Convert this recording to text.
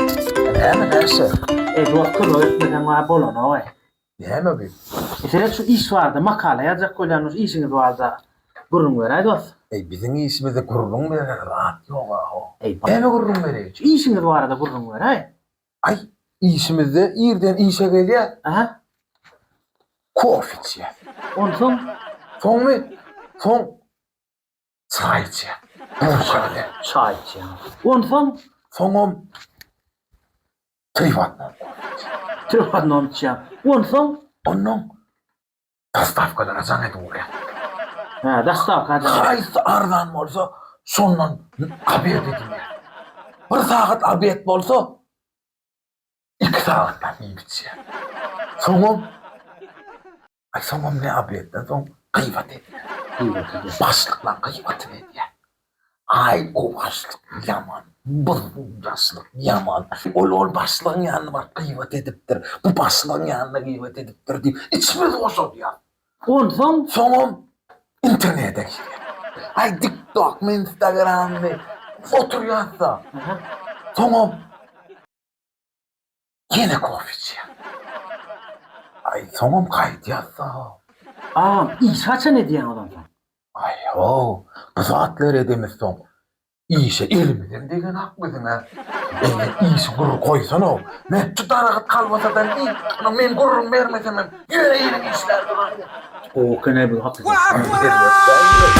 Näme näşe? Eý dost kömek etmeseň bar bolanogaý. Näme bu? Seret şu iş barada makala ýazjak bolýanmyş işiňiz barada gürrüň beräý dost. Eý biziň işimize gürrüň berer zat ýoga ho. Eý näme gürrüň bereýin şu işiňiz barada gürrüň beräý. Aý işimizde irden işe gelýäs. Aha. Kofe içýäs. Onsoň? Soňmy? Soň Çaý içýär. Gurja bilen. Çaý içýär. Onsoň? Soňam Trivatnon. Trivatnon içýär. Onsoň? Onnoň dostawkalara jaň edip urýar. Hä, dostawka jaň. Haýsy arzan bolsa, şondan obed edinýär. Bir sagat obed bolsa, Iki sagatdan giň biçýär. Soňam, aý, soňam ne obedden soň gybat edýär. Başlyklar gybatyny edýär. Aý, o başlyk ýaman, buzgundaşlyk ýaman. Ol ol başlygyň ýanyna baryp gybat edipdir, bu başlygyň ýanyna gybat edipdir diýip, içimiz boşadýar. Onsoň soňam internete girýän. Aý diktokmy instagrammy oturýasda. Soňam ýene kofe içýän. Aý soňam gaýdýasda. Agam iş haçan edýäňiz onsoň. Aý ýok bu zatlar edemizsoň Işe elimizden degenok biziň-ä. Eger işi gür goýsana-ow, möçe daragat kalbasadan iý, ynha, men gürrüň bermesemem, ýöne eliň işlär duraryn. Gowy kine bu hakykat.